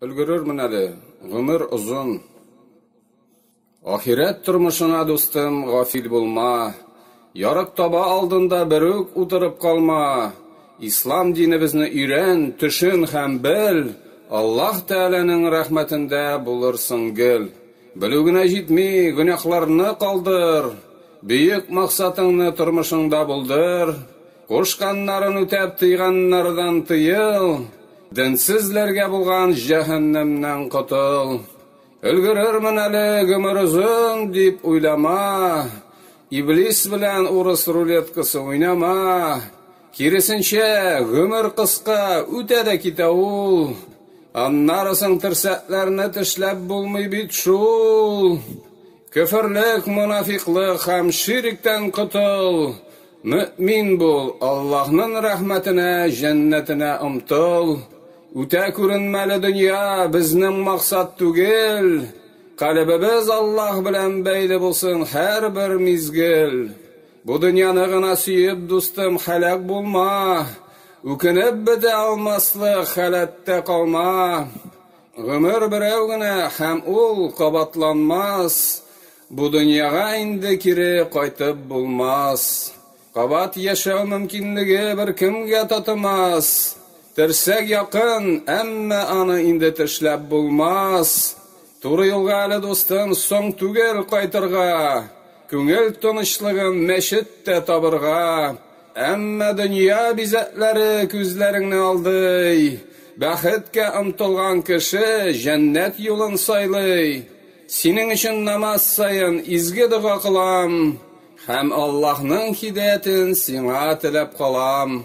Өлгерермен әле, гомер озын. Ахирәт тормышына, дустым, гафил булма. Ярык таба алдында бер үк утырып калма. Ислам динебезне өйрән, төшен һәм бел. Аллаһ Тәгаләнең рәхмәтендә булырсың гел. Белү генә җитми, гөнаһларны калдыр. Бөек максатыңны тормышыңда булдыр. Кушканнарын үтәп, тыйганнардан тыел. Денсезләргә булган җәһәннәмнән котыл. Өлгерермен әле гомер озын дип уйлама. Иблис белән урыс рулеткасы уйнама. Киресенчә, гомер кыска, үтә дә китә ул. Аннары соң терсәкләрне тешләп булмый бит шул. Көферлек, монафикълык һәм ширектән котыл, мөэмин бул, Аллаһнын рәхмәтенә, җәннәтенә омтыл. Үтә күренмәле дөнья, безнең максат түгел, калебебез Аллаһ белән бәйле булсын һәрбер мизгел. Бу дөньяны гына сөеп, дустым, һәлак булма, үкенеп бетә алмаслык халәттә калма. Гомер берәү генә, һәм ул кабатланмас, Бу дөньяга инде кире кайтып булмас. Кабат яшәү мөмкинлеге беркемгә татымас, Терсәк якын, әмма аны инде тешләп булмас. Туры юлга әле, дустым, соң түгел кайтырга, Күңел тынычлыгын мәчеттә табырга, Әмма дөнья бизәкләре күзләреңне алдый. Бәхеткә омтылган кеше җәннәт юлын сайлый. Синең өчен намаз саен изге дога кылам һәм Аллаһның һидаятен сиңа теләп калам.